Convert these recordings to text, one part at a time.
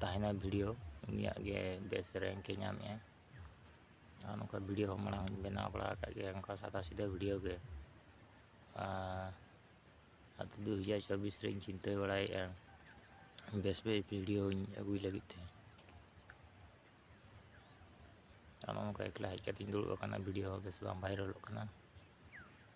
ᱛᱟᱦᱮᱱᱟ ᱵᱷᱤᱰᱤᱭᱳ ᱩᱱᱤᱭᱟᱜ ᱜᱮ ᱵᱮᱥ ᱨᱮᱝᱠ ᱮ ᱧᱟᱢᱮᱜᱼᱟ ᱟᱨ ᱱᱚᱝᱠᱟ ᱵᱷᱤᱰᱤᱭᱳ ᱦᱚᱸ ᱢᱟᱲᱟᱝ ᱵᱮᱱᱟᱣ ᱵᱟᱲᱟ ᱟᱠᱟᱫ ᱜᱮᱭᱟ ᱱᱚᱝᱠᱟ ᱥᱟᱫᱟ ᱥᱤᱫᱟᱹ ᱵᱷᱤᱰᱤᱭᱳ ᱜᱮ ᱟᱨ ᱫᱩ ᱦᱟᱡᱟᱨ ᱪᱚᱵᱵᱤᱥ ᱨᱮᱧ ᱪᱤᱱᱛᱟᱹ ᱵᱟᱲᱟᱭᱮᱫᱼᱟ ᱵᱮᱥ ᱵᱮᱥ ᱵᱷᱤᱰᱤᱭᱳᱧ ᱟᱹᱜᱩᱭ ᱞᱟᱹᱜᱤᱫ ᱛᱮ ᱟᱨ ᱱᱚᱝᱠᱟ ᱮᱠᱞᱟ ᱦᱮᱡ ᱠᱟᱛᱮᱧ ᱫᱩᱲᱩᱵ ᱟᱠᱟᱱᱟ ᱵᱷᱤᱰᱤᱭᱳ ᱦᱚᱸ ᱵᱮᱥ ᱵᱟᱝ ᱵᱷᱟᱭᱨᱟᱞᱚᱜ ᱠᱟᱱᱟ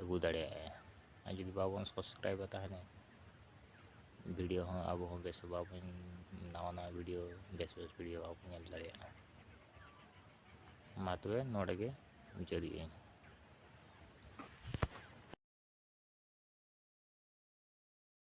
ᱟᱹᱜᱩ ᱫᱟᱲᱮᱭᱟᱜᱼᱟ ᱟᱨ ᱡᱩᱫᱤ ᱵᱟᱵᱚᱱ ᱥᱟᱵᱥᱠᱨᱟᱭᱤᱵᱟ ᱛᱟᱦᱚᱞᱮ ᱵᱷᱤᱰᱭᱳ ᱦᱚᱸ ᱟᱵᱚ ᱦᱚᱸ ᱵᱮᱥ ᱵᱟᱵᱚᱱ ᱱᱟᱣᱟ ᱱᱟᱣᱟ ᱵᱷᱤᱰᱭᱳ ᱵᱮᱥ ᱵᱮᱥ ᱵᱷᱤᱰᱭᱳ ᱵᱟᱵᱚᱱ ᱧᱮᱞ ᱫᱟᱲᱮᱭᱟᱜᱼᱟ ᱢᱟ ᱛᱚᱵᱮ ᱱᱚᱰᱮ ᱜᱮ ᱢᱩᱪᱟᱹᱫᱮᱜ ᱟᱹᱧ